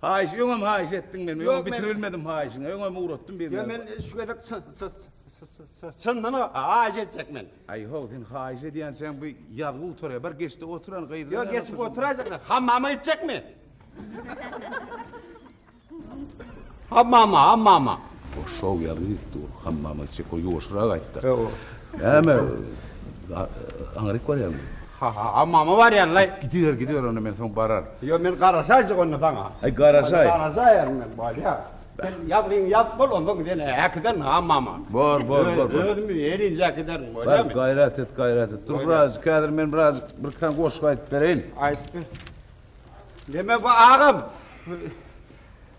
Haýyş, öňem haýyş etdiň men, öňem bitiribilmedim haýyşyňy, öňem ugratdym bir. Ýok, men şu gezek çyndan haýyş etjek men. Aý, ho, sen haýyş edýänçäň bu ýazgy gutaryar, bir geçde oturan gyzlar. Ýok, geçip oturaýjak men, hammama gitjek men. Hammama, hammama. O şow ýazgy gitdi, o hammama gitjek, o ýuwaşyrak aýtdy. Näme, aňryk barýarmy? Ha-ha-ha, mama barýan-laý. Gidiber, gidiber, onda men soň bararyn. Ýo, men garaşaýjyk onda saňa. Aý, garaşaý. Garaşaýaryn men, bolýar. Sen ýazgyňy ýazyp bol, onsoň seni äkiderin, ha, mama. Bor, bor, bor. Özüm eliňje äkiderin, bolýamy? Bar, gaýrat et, gaýrat et. Dur birazjyk, häzir men birazjyk bir iki sany goşgy aýdyp bereýin. Aýdyp ber. Deme, bu agam.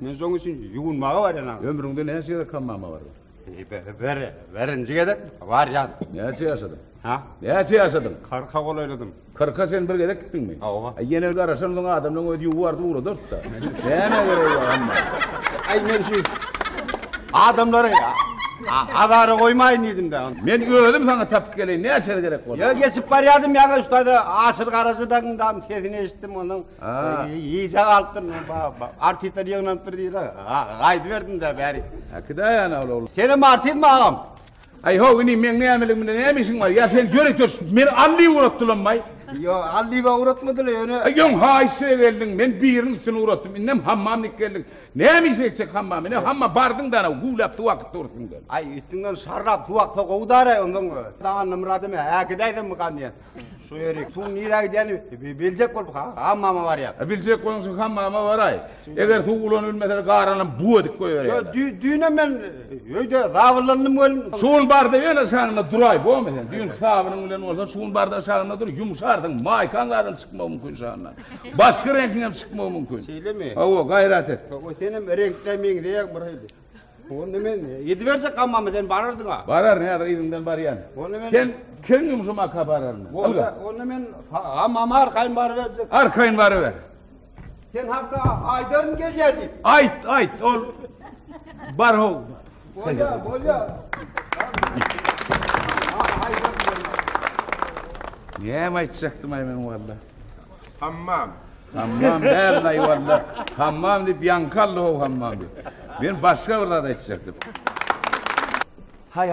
Men şoň üçin ýuwunmaga barýan. Ömrüňde näçe gezek hammama bardyň? Ber, berinji gezek barýan. Näçe ýaşadyň? Ha? Näçe ýaşadyň? Kyrka golaýladym. Kyrka sen bir gezek gitdiňmi? Hawa. Aý ýene garaşan soň adamlaryň özi ýuwardy uradardy-da. Näme gerek bar hamma? Aý men şu adamlary azara goýmaýyn diýdim-de. Men özüm saňa tapyp geleýin, näçe gerek bolsa. Ýa geçip barýardym ýa-da şu taýda aşyr garaşydagyňdam sesini eşitdim onuň. Iýjek alypdyryn men baba. Artistler ýygnanypdyr diýdiler. Gaýdyp berdim de bäri. Äkide ýana ol ogul. Sen hem artistmi agam? Aý ho, ini meň nämeligim bilen näme işiň bar? Ýa sen ýör ýör, meni Alli ugratdylanmaý. Ýo, Alli we ugratmadylar ýöne. Aý ýoň haýyşa geldiň, men biriniň üstüne ugratdym. Indem hammamnik geldik. Näme iş etjek hammam? Ine hamma bardyň da ana güwläp suw akyp dur üstüňden. Aý üstüňden şarrap suw aksa gowy dara ondan. Danyny Myradym, äkide aýdym mykandýan. Şu ýerik, suw nirä gidýäni biljek bolup ha, hammama barýar. E, biljek boluň şu hammama baraý. Eger suw ulanyp bilmeseler garanam bu edip goýberýär. Yo, dü, düýne men öýde zabyllandym gelin. Şu gün barda ýene şanyna duraý, bolma sen. Düýn hisabynyň bilen bolsa, şu gün barda şanyna dur, ýumşarsyň, maýkaň gadan çykmagy mümkin şanyna. Başky reňkiňem çykmagy mümkin. Şeýlemi? Hawa, gaýrat et. O senem reňkde meňzeýäň bir hili. Onda men ýedi berjek gammamy sen barardyň-a. Bararyn, häzir yzyňdan barýan. Onda men Sen kän ýumşum aka bararyn. Onda, onda men gammamy arkaýyn baryberjek. Arkaýyn baryber. Sen hakda aýdaryn gelýär diýip. Aýt, aýt, ol bar how. Bolýar, bolýar. Näme aýtjakdym-aý men walla. Hammam. Hammam däl naýwanda. Hammam diýip ýaňky aldy o hammam diýip. Men başga bir zat aýtjakdym.